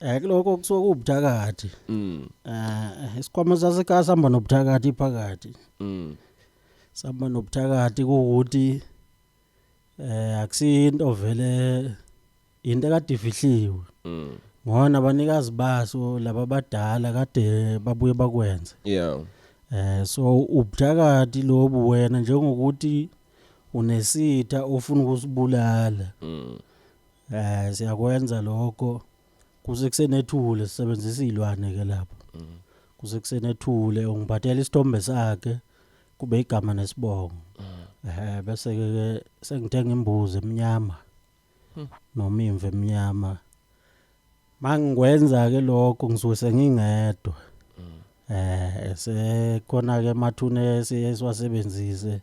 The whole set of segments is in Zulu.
Eh kuloko kusuka kubuthakathi. Mm. Eh isikhwama sasekhaya sihamba nobuthakathi phakathi. Mm. Sihamba nobuthakathi ukuthi eh akusinto vele into kade ifihliwe. Mm. Ngona abanikazi baso laba badala kade babuye bakwenze. Yeah. Eh so ubuthakathi lobu wena njengokuthi unesitha ofuna ukusibulala. Mm. Eh siyakwenza lokho kuze kusenethule sisebenzisa izilwane ke lapho. Mm. Kuze kusenethule ungiphathela isithombe sakhe kube igama nesibongo. Mm. Eh bese ke sengithenga imbuzi emnyama. Hmm. Noma imvu emnyama. Mangikwenza ke lokho ngisuke sengingedwa. Mm. Eh sekhona ke mathune siyeswasebenzise.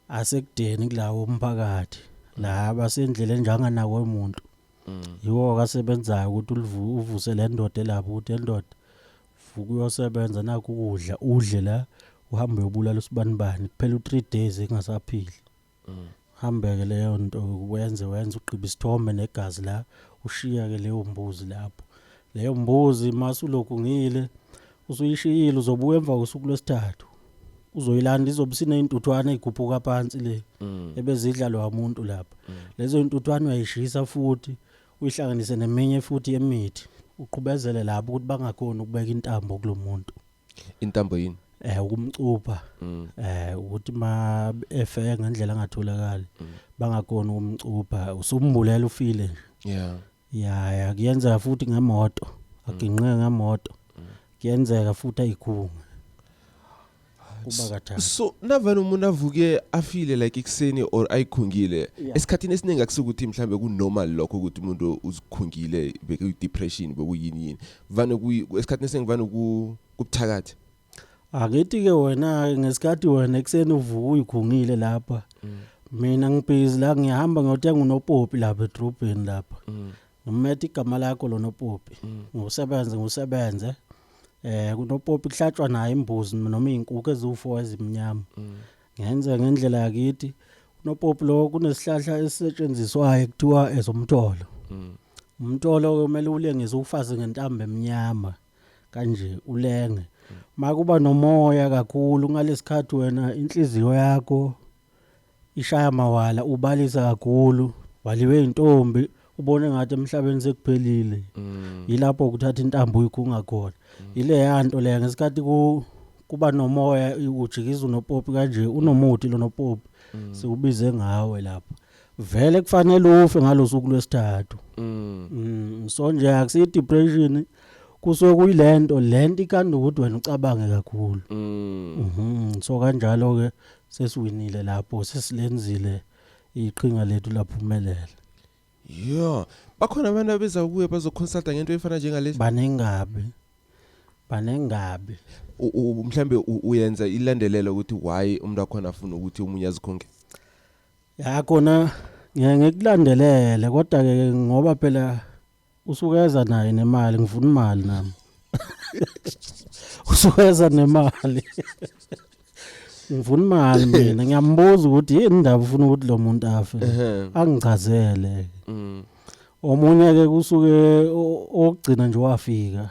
asekudeni kulawo umphakathi la basendleleni nje anganakwe umuntu yiwo kasebenzayo ukuthi ulivu- uvuse le ndoda elapho ukuthi le ndoda vuka uyosebenza nakho ukudla udle la uhambe uyobulala usibanibani kuphela u-three days engasaphili hambeke leyo nto wenze wenze ugqiba isithombe negazi la ushiya-ke leyo mbuzi lapho leyo mbuzi mase ulokhu ngile Usuyishiyile uzobuya emva kosuku lwesithathu. Uzoyilanda izobe sineintuthwane igubhuka phansi le mm. ebezidla lo muntu lapha. Mm. Lezo intuthwane uyayishisa futhi uyihlanganise neminye futhi yemithi. Uqhubezele lapho ukuthi bangakhona ukubeka intambo kulomuntu. Intambo yini? eh ukumcupha mm. eh ukuthi ma efe ngendlela angatholakali mm. bangakona ukumcupha usumbulela ufile nje yeah ya ya kuyenzeka futhi ngemoto aginqe ngemoto kuyenzeka futhi ayikhunga kuba kathathu so navele umuntu avuke afile like ekuseni or ayikhungile Yeah. esikhathini esiningi akusukuthi mhlambe kunormal lokho ukuthi umuntu uzikhungile bekuyi-depression bekuyini yini vane kuyi- esikhathini esiningi vane ku- kubuthakathi Angithi-ke wena-ke ngesikhathi wena ekuseni uvuka uyikhungile lapha. Mm. Mina ngibhizi la ngiyahamba ngiyothenga unopopi lapha edrobheni lapha. Mm. Ngimethe igama lakho lo nopopi. Mm. Ngosebenze ngosebenze. Eh kunopopi kuhlatshwa naye imbuzi noma izinkukhu eziwu4 ezimnyama. Ngenze ngendlela yakithi. Unopopi lo kunesihlahla esisetshenziswayo kuthiwa ezomtholo. Umtholo kumele ulengise ufaze ngentambo emnyama. kanje ulenge makuba nomoya kakhulu ngalesikhathi wena inhliziyo yakho ishaya mawala ubalisa kakhulu waliwe intombi ubone ngathi emhlabeni sekuphelile mm. yilapho ukuthatha intambo uyikhunga khona mm. ile yanto le ngesikhathi ku kuba nomoya ujikiza unopopi kanje unomuthi lonopopi mm. siwubize ngawe lapha vele kufanele ufe ngalosuku lwesithathu mm. mm so nje akusi depression kusuke kuyilento lento ikanda ukuthi wena ucabange kakhulu mm. mhm so kanjalo ke sesiwinile lapho sesilenzile iqhinga lethu laphumelela yo bakhona abantu abeza kuye bazoconsulta ngento efana njengalesi banengabe banengabe mhlambe uyenza ilandelela ukuthi why umuntu wakhona afuna ukuthi umunye azikhonke Ya kona ngeke ngikulandelele kodwa ke ngoba phela usukeza naye nemali ngifuna imali nami. Usukeza nemali. Ngifuna imali mina ngiyambuza ukuthi yini indaba ufuna ukuthi lo muntu afe. Ehhe. Angichazele. Mm. Omunye ke kusuke o- ogcina nje wafika.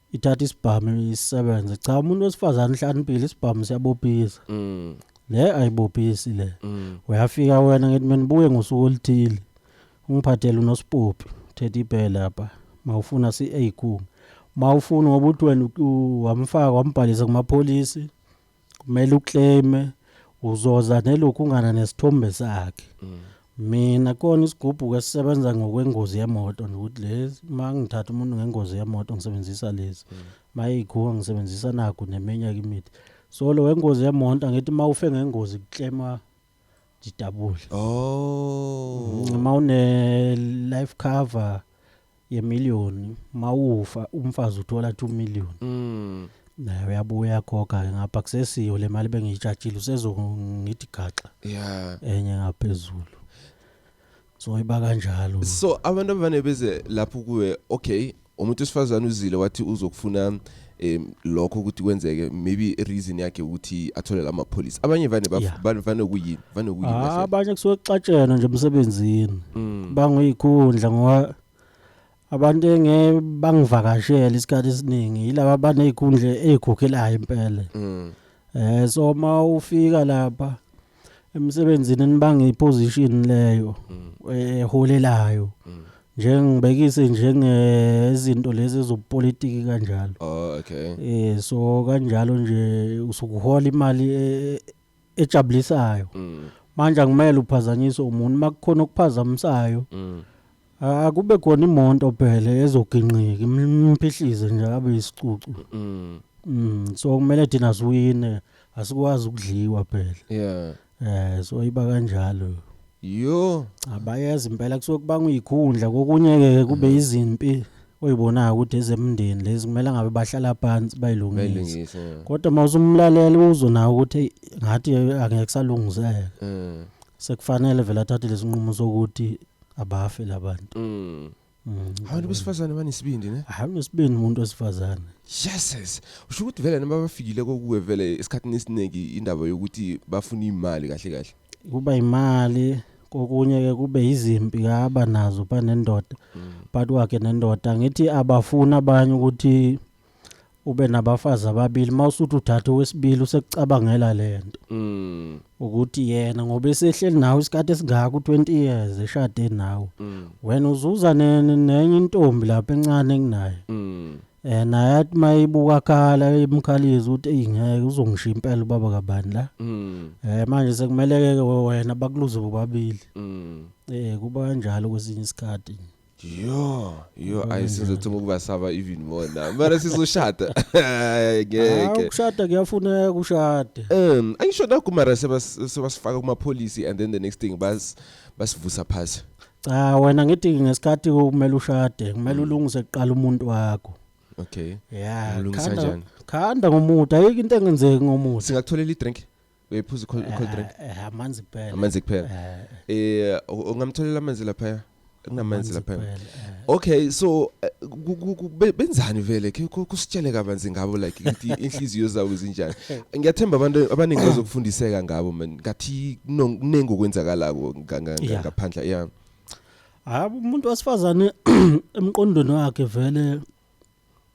ithatha isibhamu isebenze cha umuntu wesifazane uhlaniphile isibhamu siyabophisa mm. le ayibophisi le mm. uyafika wena ngithi mina buye ngosuku oluthile ungiphathele unosipophi thetha ibhele apha mawufuna si-a khunga mawufuna ngoba uthi wena wamfaka wambhalisa kumapholisi kumele uclaime uzoza nelokhu ungana nesithombe sakhe mm. mina kona isigubhuko esisebenza ngokwengozi yemoto nokuthi lezi uma ngithatha umuntu ngengozi yemoto ngisebenzisa lezi mm. mayikhuwa ngisebenzisa naku neminye imithi so lo wengozi yemonto angithi uma ufe ngengozi kuclaima jidabule oh uma une life cover ye million mawufa umfazi uthola 2 million mm naye uyabuya khokha ke ngapha kusesiyo le mali bengiyijatshile usezongithi gaxa yeah enye ngaphezulu so iba kanjalo so abantu abavane beze lapho kuwe okay umuntu wesifazane uzile wathi uzokufuna um lokho ukuthi kwenzeke maybe reason yakhe ukuthi athole la mapholisa abanye vane baf- Yeah. vane vane kuyini vane kuyini Ah, kahle? abanye kusuke kuxatshena nje emsebenzini Mm. bangiyikhundla ngoba abantu engeke bangivakashele isikhathi esiningi yilaba abanezikhundla ezigugilayo impela Mm. eh so uma ufika lapha emsebenzini nibanga iposition leyo mm. eholelayo eh, mm. njengibekise njengezinto lezi ezopolitiki kanjalo oh okay eh so kanjalo nje usukuhola imali e, e, ejabulisayo mm. manje angimele uphazanyiswe umuntu makukhona okuphazamisayo akube khona imonto phela ezoginqika imphihlize nje abe isicucu mm. mm so kumele thina siwine asikwazi ukudliwa phela yeah eh so iba kanjalo yo abayazi impela kusuke kubanga uyikhundla kokunye ke kube mm. izimpi oyibonaka ukuthi ezemndeni lezi kumele ngabe bahlala phansi bayilungise kodwa mawusumlaleli uzo nawo ukuthi ngathi angeke salungizeka mm. sekufanele vele athathe lesinqumo sokuthi abafe labantu mm. mm. abantu besifazane banesibindi ne hayi unesibindi umuntu wesifazane yeses usho ukuthi vele noma bafikile kokuwe vele esikhathini esiningi indaba yokuthi bafuna imali kahle kahle kuba imali kokunye ke kube izimpi kaba nazo banendoda mm. but wakhe nendoda ngithi abafuna abanye ukuthi ube nabafazi ababili mawusuthi uthatha owesibili usekucabangela lento Mm. ukuthi yena ngoba esehleli nawe isikhathi esingaka u20 years eshade nawe Mm. wena uzuza ne- ne- nenye intombi lapha encane kunaye Mm. eh naye athi mayibuka khala emkhaliza ukuthi eyi ngeke uzongishiya impela ubaba kabani la Mm. eh manje sekumele ke wena bakuluze bobabili Mm. eh kuba kanjalo kwesinye isikhathi yo yo Ubona ayi sizothoma ukubasaba even more now mara sizoshada Hayi, ngeke Ah, ukushada kuyafuneka ushade um angisho nakho mara sebas- sebasifaka kumapholisi and then the next thing bas basivusa phasi cha wena ngithi ngesikhathi kumele ushade kumele ulungise kuqala umuntu wakho okay ya Umlungisa khanda- njani? khanda ngomuthi ayikho into engenzeki ngomuthi singakutholela i-drink uyiphuza cold Eh, drink eh, eh, amanzi kuphela amanzi kuphela Eh, eh u- ungamtholela amanzi lapha kunamanzi lapha kuphela, eh. okay so eh, ku- ku- ku- be- benzani vele ke ku- kusitshele kabanzi ngabo like ukuthi inhliziyo zabo zinjani ngiyathemba abantu abaningi bazokufundiseka ngabo man ngathi kuno- kuningi okwenzakalako nga- nga- nga- Yeah. ngaphandla yeah hayi umuntu wesifazane emqondweni wakhe vele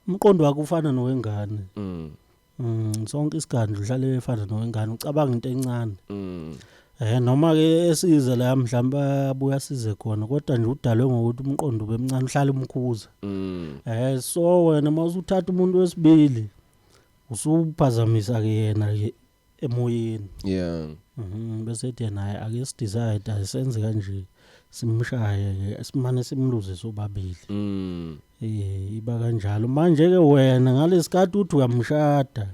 umqondo wakhe ufana nowengane mm Mm, sonke isikhathi udlale efana nowengane ucabanga into encane. Mm. Eh noma ke esize la mhlawumbe abuya size khona kodwa nje udalwe ngokuthi umqondo ubemncane uhlala umkhuza. Mm. Eh so wena mawusuthatha umuntu wesibili usuphazamisa ke yena ke emoyeni. Yeah. Mhm bese ethi yena hayi ake sidecide ayisenze kanje simshaye ke simane simluze sobabili. Mm. Eh iba kanjalo manje ke wena ngalesikhathi uthi uyamshada.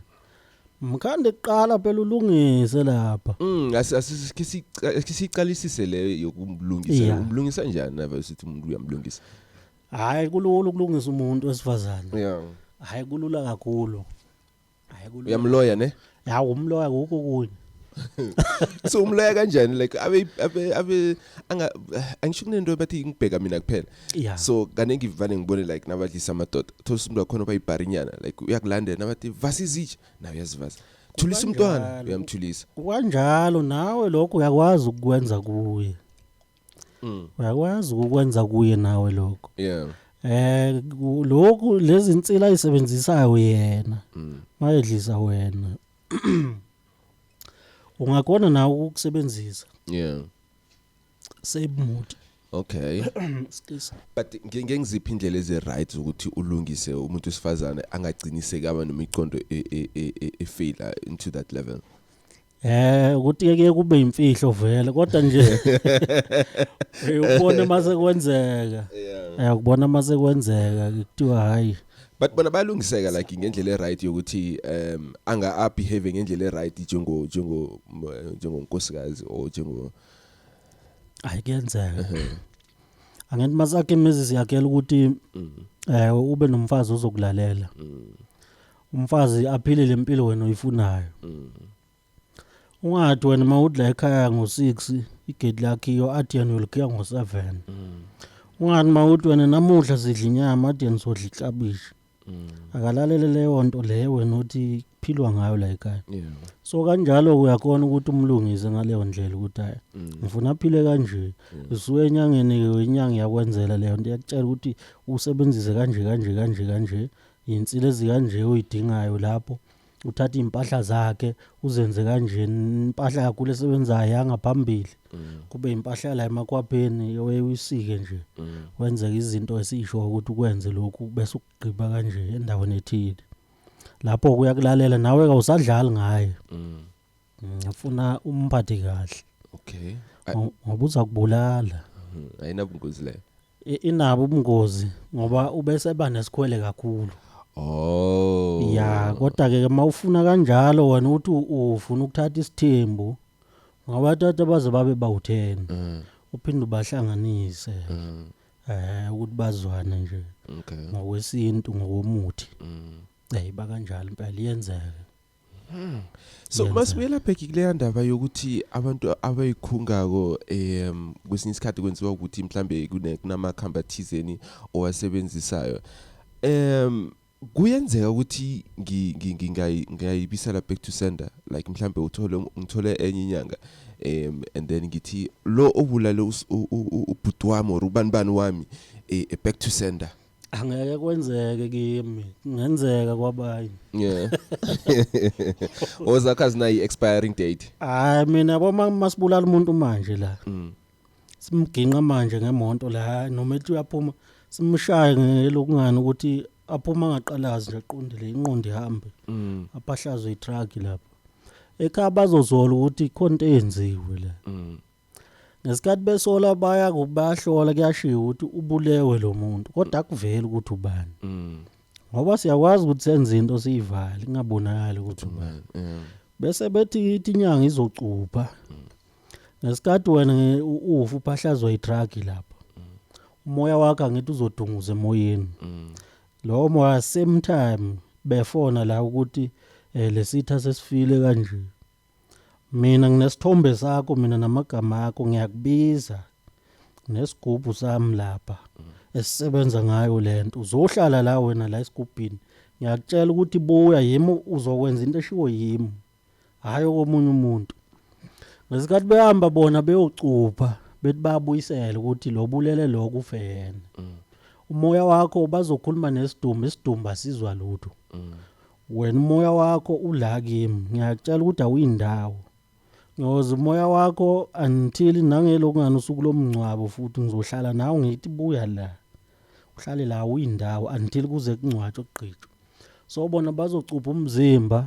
Mkhande kuqala phela ulungise lapha. Mm asisiqalisise le yokumlungisa. Umlungisa kanjani na vese uthi umuntu uyamlungisa? Hayi kulula ukulungisa umuntu wesifazane. Yeah. Hayi kulula kakhulu. Hayi kulula. uyamloya ne Ya umloya kuko kunye. so umloya kanjani like abe abe abe anga angisho kunento abathi ngibheka mina kuphela Yeah. so kaningi vane ngibone like nabadlisa amadoda thola umuntu wakhona obayibharinyana like uyakulandela nabathi vasa izitsha naye uyazivasa thulisa umntwana Kanjalo. uyamthulisa Kwanjalo nawe lokho uyakwazi ukwenza kuye. Mm. uyakwazi ukwenza kuye nawe lokho Yeah. eh ku- lokhu lezi insila ayisebenzisayo yena Mm. mayedlisa wena ungakona nawe ukusebenzisa Yeah. save mood Okay. Excuse. But nge- ngengiziphi indlela ezi right ukuthi ulungise umuntu wesifazane angagciniseki aba nemiqondo e- e- e- e- efila into that level. Eh ukuthi ke kuye kube imfihlo vele kodwa nje uyubona mase kwenzeka. Eh ukubona mase kwenzeka kuthiwa hayi. But bona balungiseka like ngendlela eright yokuthi um anga up behave ngendlela eright njengo njengo njengonkosikazi or njengo Hayi kuyenzeka. Angithi masakhe imizi siyakhela ukuthi mm. eh ube nomfazi ozokulalela. Mm. umfazi aphile lempilo wena uyifunayo mm. ungathi wena uma udla ekhaya ngo-6 igedi lakhiyo athi yena uyolikhaya ngo-7 mm. ungathi uma uthi wena namuhla sidla inyama athi yena sodla iklabishi mm. akalalele leyo nto leyo wena othi kuphilwa ngayo la ekhaya yeah. so kanjalo uyakhona ukuthi umlungise ngaleyo ndlela ukuthi hayi mm. ngifuna aphile kanje yeah. usuke enyangeni inyanga yakwenzela leyo nto yakutshela ukuthi usebenzise kanje kanje kanje kanje Yinsila ezikanje oyidingayo lapho uthatha iy'mpahla zakhe uzenze kanjeni impahla yakho lesebenzayo yangaphambili mm. kube impahla la emakwabheni weyisike nje mm. wenzeke izinto esisho ukuthi ukwenze lokhu bese ukugqiba kanje endaweni ethile lapho kuyakulalela nawe kawusadlali ngaye mm. ngifuna umphathe kahle okay Ngo- ngoba uzakubulala Mhm, ayinabungozi leyo I- inabo ubungozi ngoba ubeseba nesikhwele kakhulu oh ya kodwa ke uma ufuna kanjalo wena uthi u- ufuna ukuthatha isithembu ngabathatha baze babe bawu-10 Mm, uphinde ubahlanganise mm, um ukuthi bazwane nje okay ngokwesintu ngokomuthi um eyi bakanjalo impela iyenzeka Hmm. so masibuyela bheki kuleya ndaba yokuthi abantu abayikhungako um kwesinye isikhathi kwenziwa ukuthi mhlambe kunamakhamba thizeni owasebenzisayo um kuyenzeka ukuthi ngingayibisela back to sender like mhlambe uthole ngithole enye inyanga um and then ngithi lo obulale ubhuti wami or ubani bani wami eh, eh, back to sender angeke kwenzeke kimi kungenzeka kwabanye yeah ozakha zinayi expiring date hayi mina yabo masibulala umuntu manje la mm. simginqa manje ngemonto la noma ethi uyaphuma simshaye ngelokungani ukuthi aphuma ngaqalazi nje aqondile inqondo ihambe mm. apahlazwe itruck lapho ekhaya bazozola ukuthi ikhonto eyenziwe la mm. ngesikhathi besola baya ku- bayahlola kuyashiwo ukuthi ubulewe lo muntu kodwa akuveli ukuthi ubani Mm. ngoba siyakwazi ukuthi senze into siyivale ingabonakali ukuthi ubani Yeah. bese bethi ithi inyanga izocupha ngesikhathi wena nge- u- ufa uphahlazwa i-drug lapho umoya wakhe angithi uzodunguza emoyeni Mm. lowo moya same time befona la ukuthi um lesitha sesifile kanje Mina nginesithombe sakho mina namagama akho ngiyakubiza nesigubhu sami lapha esisebenza ngayo lento uzohlala la wena la esigubhini ngiyakutshela ukuthi buya yimi uzokwenza into eshiwo yimi hayi okomunye umuntu ngesikhathi behamba bona beyocupha bethi babuyisele ukuthi lo bulele lo kufeyena umoya wakho bazokhuluma nesidumbu isidumbu asizwa lutho Wena umoya wakho ula kimi ngiyakutshela ukuthi awuyindawo ngoze umoya wakho until nangelokungani usuku lomngcwabo futhi ngizohlala nawe ngithi buya la uhlale la uyindawo until kuze kungcwatshwe kugqitshwe so bona bazocupha umzimba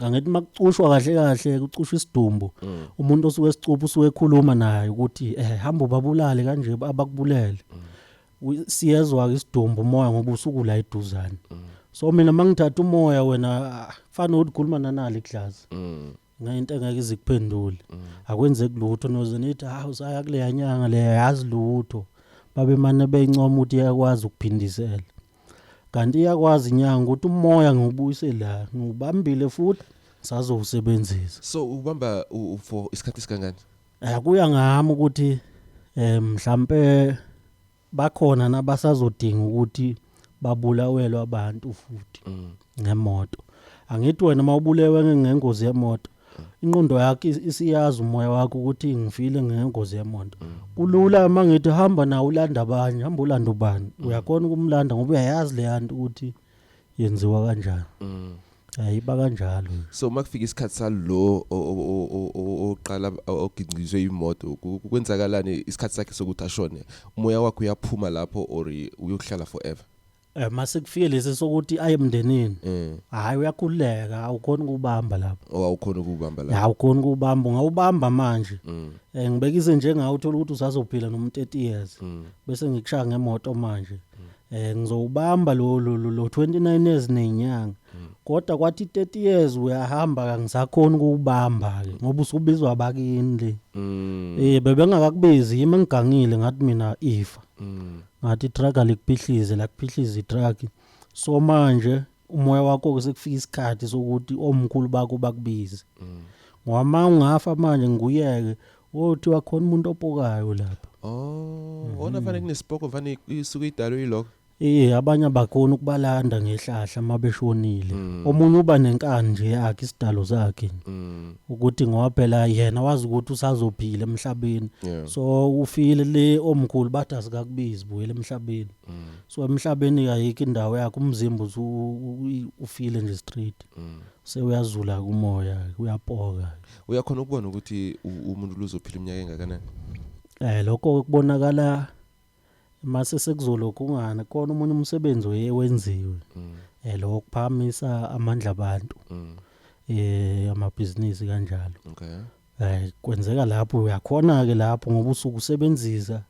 angithi makucushwa kahle kahle kucushwa isidumbu mm. umuntu osuke esicupha usuke ekhuluma naye ukuthi eh hamba ubabulale kanje abakubulele mm. siyezwa isidumbu umoya ngoba usuku la eduzane mm. so mina mangithatha umoya wena ah, kufana ukhuluma nanali iglazi ngayinto engeke izikuphendule akwenzeki lutho noze nithi ha ah, usaya kuleya nyanga leya yazi lutho babemane beyincoma ukuthi yakwazi ukuphindisela Kanti iyakwazi inyanga ukuthi umoya ngiwubuyise la, ngiwubambile futhi ngisazowusebenzisa. So ubamba u- u- for isikhathi esingangani? Eh kuya ngami ukuthi eh mhlambe bakhona nabasazodinga ukuthi babulawelwe abantu futhi. ngemoto angithi wena uma ubulewe nge- ngengozi yemoto inqondo yakho is- isiyazi umoya wakho ukuthi ngifile ngengozi yemoto kulula uma ngithi hamba nawo ulanda abanye hamba ulanda ubani uyakhona ukumlanda ngoba uyayazi leya nto ukuthi yenziwa kanjani ayiba kanjalo so uma kufika isikhathi salo o- o- o- o- o- oqala o- ogingqizwe imoto ku- ku- kwenzakalani isikhathi sakhe sokuthi ashone umoya wakho uyaphuma lapho or uyokuhlala forever Eh mase kufike lesi sokuthi aye emndenini. Mm. Hayi uyakhuleka awukhona ukubamba lapha. Oh awukhona ukubamba lapha. Hayi ukhona ukubamba ngawubamba manje. Mm. Eh ngibekise njengawe uthola ukuthi usazophila noma 30 years. Mm. Bese ngikushaya ngemoto manje. Mm. Eh ngizowubamba lo lo lo 29 years nenyanga. Mm. Kodwa kwathi 30 years uyahamba kangisakhona ukubamba ke ngoba usubizwa abakini le. Mm. Eh bebengakakubizi yimi ngigangile ngathi mina ifa. Mm. ngathi itruck alikuphihlise lakuphihlisa itruck so manje umoya wakho sekufika isikhathi sokuthi omkhulu bakho bakubize ngoba ma ungafa manje ngikuyeke wothi wakhona umuntu opokayo lapha oh ona fanele kunesipoko fanele isuke idalwe iloko Eh abanye abakhona ukubalanda ngehlahla mabeshonile. Omunye uba nenkani nje yakhe isidalo sakhe. ukuthi ngoba phela yena wazi ukuthi usazophila emhlabeni yeah. so ufile le omkhulu bathi asikakubizi buyela emhlabeni mm. so emhlabeni kayikho indawo yakhe umzimba ufile nje straight mm. sewuyazula kumoya uyapoka uyakhona ukubona ukuthi umuntu luzophila iminyaka engakanani eh lokho kubonakala mase sekuzolokhu kungana kona umunye umsebenzi oye wenziwe mm. eh lo kuphamisa amandla abantu mm. eh amabhizinisi kanjalo okay eh kwenzeka lapho uyakhona ke lapho ngoba usuku usebenzisa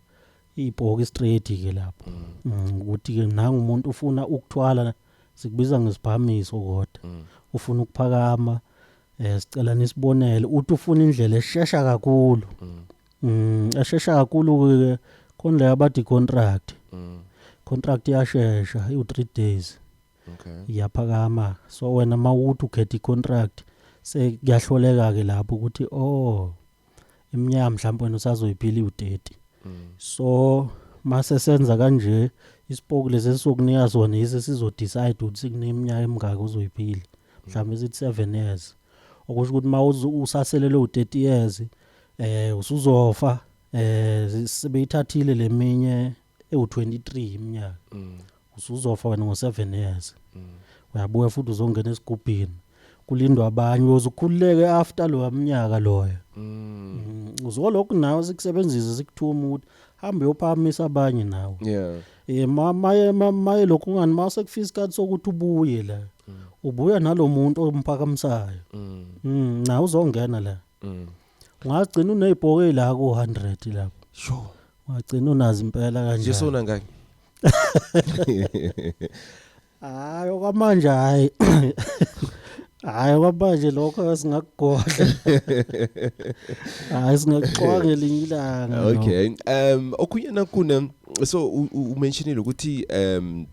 ibhoki straight ke lapho mm. Mm, ukuthi ke nangu umuntu ufuna ukuthwala sikubiza ngesibhamiso kodwa mm. ufuna ukuphakama eh sicela nisibonele uthi ufuna indlela eshesha kakhulu Mm, ashesha kakhulu ke konle abathi contract. Mm. Contract yashesha u 3 days. Okay. Iyaphakama. So wena mawuthi ukhetha icontract se kuyahloleka ke lapho ukuthi oh iminyaka mhlawumbe wena usazoyiphila u30. Mm. So mase senza kanje isipoku lesi sokunika sona yise sizo decide ukuthi kuneminyaka emingaka uzoyiphila. Mm. Mhlawumbe sithi 7 years. okusho ukuthi uma usaselelwe u-30 years eh usuzofa eh sebeyithathile leminye ewu-23 iminyaka mm. usuzofa wena ngo-7 years mm. uyabuya futhi uzongena esigubhini kulindwa abanye uyozukhululeke after loya mnyaka loyo mm. uzolokhu nawe sikusebenzise sikuthuma ukuthi hambe yophamisa abanye nawe yeah Eh maye maye lokhu ngani mase kufika isikhathi sokuthi ubuye la. Mm. Ubuya nalomuntu omphakamisayo. Mm. mm na uzongena la. Mm. Ungagcina unezibhoke la ku 100 lapho. Sho. Ungagcina unazi impela kanjani. Yesona ngani? hayi okwamanje hayi hayi okwamanje lokho singakugodla hayi singakuxwanga elinye ilanga no. okay um okunye nakune so u- u- umentionile ukuthi um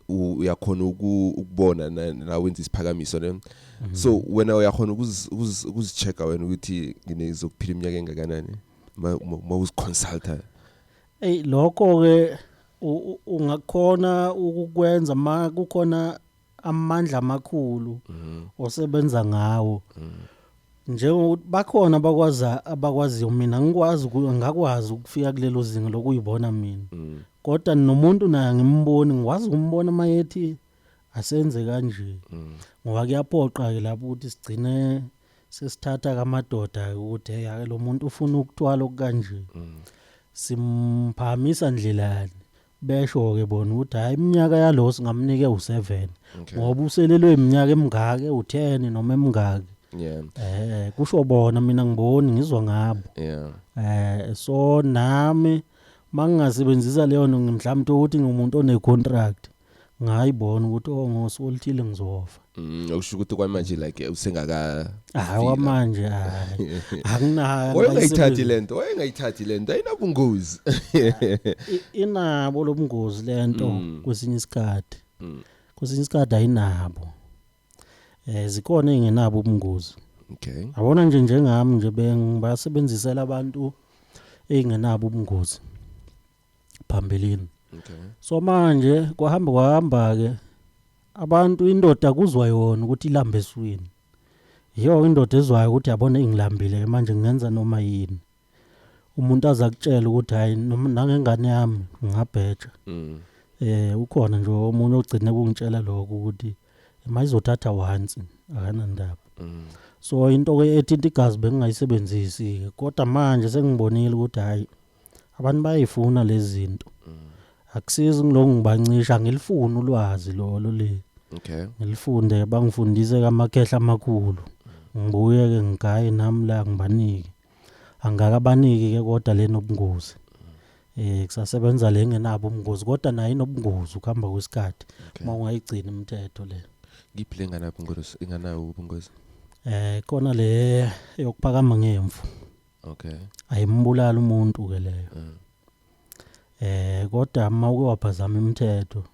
u- uyakhona uku- ukubona na- la wenza isiphakamiso ne so wena uyakhona ukuzi- ukuzi- ukuzichecka wena ukuthi ngizokuphila iminyaka engakanani ma ma- ma uziconsulta eyi lokho-ke ungakhona ukukwenza ma kukhona amandla amakhulu mm. osebenza ngawo mm. njengokuthi bakhona abakwaza abakwaziyo mina ngikwazi ngakwazi ukufika kulelo zinga lokuyibona mina mm. kodwa nomuntu naye ngimboni ngikwazi ukumbona uma yethi asenze kanje ngoba kuyapoqa-ke lapho ukuthi sigcine sesithatha kamadoda ukuthi hey lo muntu ufuna ukutwala okukanje mm. simphamisa ndlelani besho ke bona ukuthi hayi iminyaka yalo singamnike u7 ngoba uselelwe iminyaka emingake u10 noma emingake yeah eh kusho bona mina ngiboni ngizwa ngabo yeah eh so nami mangingasebenzisa leyo mhlawumbe ukuthi ngimuntu one contract ngayibona ukuthi oh ngosuku oluthile ngizofa Mm, okusho ukuthi kwamanje like usengaka hayi wamanje hayi akunayo wayengayithathi lento wayengayithathi lento ayinabungozi inabo lobungozi lento mm. kwesinye isikhathi mm. kwesinye isikhathi ayinabo eh zikhona engenabo ubungozi okay abona nje njengami nje bengibasebenzisela abantu engenabo ubungozi phambilini okay so manje kwahamba kwahamba ke abantu indoda kuzwa yona ukuthi ilamba eswini yiyo indoda ezwayo ukuthi yabona ingilambile manje ngenza noma yini umuntu aza kutshela ukuthi hayi noma nangengane yami ngingabheja mm. eh ukhona nje omunye ogcine kungitshela lokho ukuthi mayizothatha once akanandaba mm. so into ke ethinta igazi bengingayisebenzisi kodwa manje sengibonile ukuthi hayi abantu bayayifuna lezi zinto akusizi ngilokhu ngibancisha ngilifuna ulwazi lolo le okay ngilifunde bangifundise kamakhehla amakhulu ngibuye ke ngigaye nami la ngibanike angakabaniki ke kodwa le nobungozi eh kusasebenza le ngenabo ubungozi kodwa nayo inobungozi ukuhamba kwesikhathi Okay. uma ungayigcini imithetho le ngiphi le nganayo ubungozi inganayo ubungozi eh kona le yokuphakama ngemvu Okay. Ayimbulala umuntu ke leyo. Mm. Eh kodwa uma uke waphazama imithetho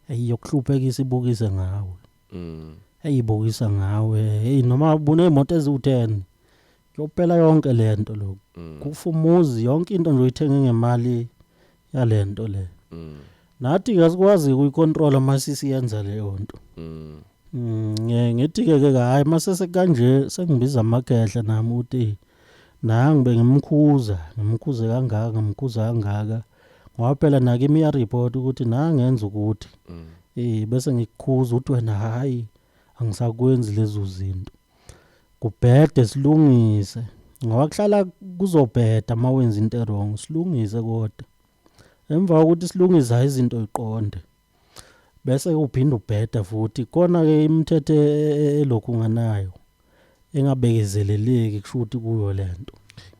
ayiyokuhluphekisa ibukise ngawe. Mm. Ayibukisa ngawe. Hey noma ubune imoto eziwu10. Yophela yonke lento lokho. Mm. Kufa umuzi yonke into nje uyithenge ngemali yalento le mm. nathi kasikwazi ukuyicontrola masisi yenza leyo nto mm. mm ngithi ke ke hayi masese kanje sengibiza amagehle nami uthi nangi bengimkhuza ngimkhuze kangaka ngimkhuza kangaka ngoba phela nake imiya report ukuthi nangenza ukuthi mm. eh bese ngikukhuza uthi wena hayi angisakwenzi lezo zinto kubhede silungise ngoba kuhlala kuzobheda uma wenza into erong silungise kodwa emva kokuthi silungisa izinto iqonde bese uphinde ubheda futhi kona-ke imithetho e, e, e, elokhu nganayo engabekezeleleki kusho ukuthi kuyo le nto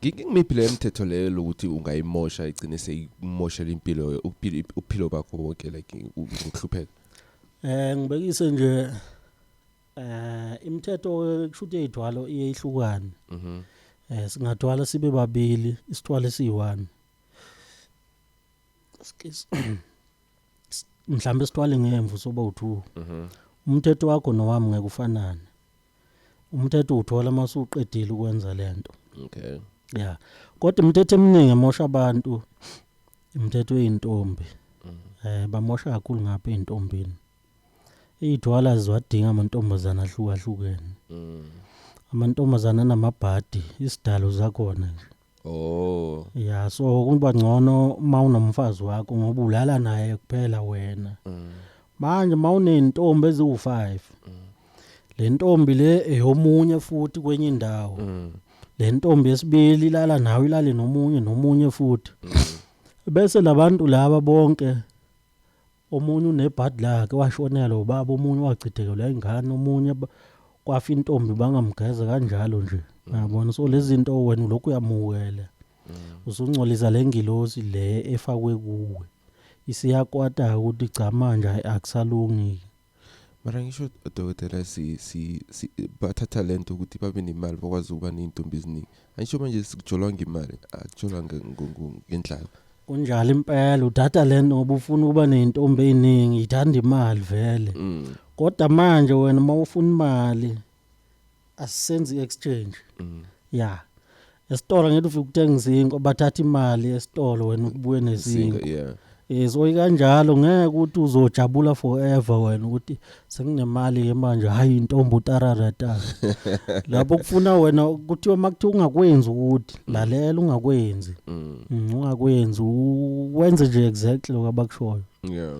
ngimiphi le mthetho leyo lokuthi ungayimosha igcine seyimoshela impilo uphilo bakho bonke like ukuhlupheka eh ngibekise nje eh imithetho kushuthi eyithwalo iyehlukana mhm eh singathwala sibe babili isithwalo esiyi-1 mhlawumbe sithwale ngemvu soba u2 mhm umthetho wakho nowami ngeke ufanane umthetho uthola uma usuqedile ukwenza lento okay ya kodwa imithetho eminingi emosha abantu imithetho yeintombi mhm. eh bamosha kakhulu ngapha eintombini Iy'thwala ziwadinga amantombazane ahlukahlukene. Mm. Amantombazane anamabhadi, isidalo zakhona nje. Oh. Ya so kuba ngcono uma unomfazi wakho ngoba ulala naye kuphela wena. Mm. Manje uma unentombi eziwu-5. Mm. Le ntombi le eyomunye futhi kwenye indawo. Mm. Le ntombi yesibili ilala nawe ilale nomunye nomunye futhi. Mm. Bese labantu laba bonke omunye unebhadi lakhe washonelwa ubaba omunye wachithekelwa ingane omunye kwafa intombi bangamgeza kanjalo nje mm. yabona so lezi zinto wena lokhu uyamukela mm. usungcolisa le ngilosi le efakwe kuwe isiyakwata ukuthi cha manje akusalungi mara ngisho odokotela si, si, si, bathatha le nto ukuthi babe nemali bakwazi ukuba ney'ntombi eziningi angisho manje sikujolwa ngemali akujolwa ngendlala kunjalo impela udata le nto ngoba ufuna ukuba ney'ntombi ey'ningi yithanda imali vele mm. kodwa manje wena uma ufuna imali asisenzi i-exchange mm. ya esitolo ngeke ufike ukuthenga izinko bathatha imali esitolo wena ukubuye nezinko yeah ezoyi kanjalo ngeke ukuthi uzojabula forever wena ukuthi senginemali ke manje hayi intombi utararata lapho kufuna wena kuthiwa makuthiwa ungakwenzi ukuthi mm. lalela ungakwenzi mm. Mm, ungakwenzi wenze nje exactly lokho abakushoyo yeah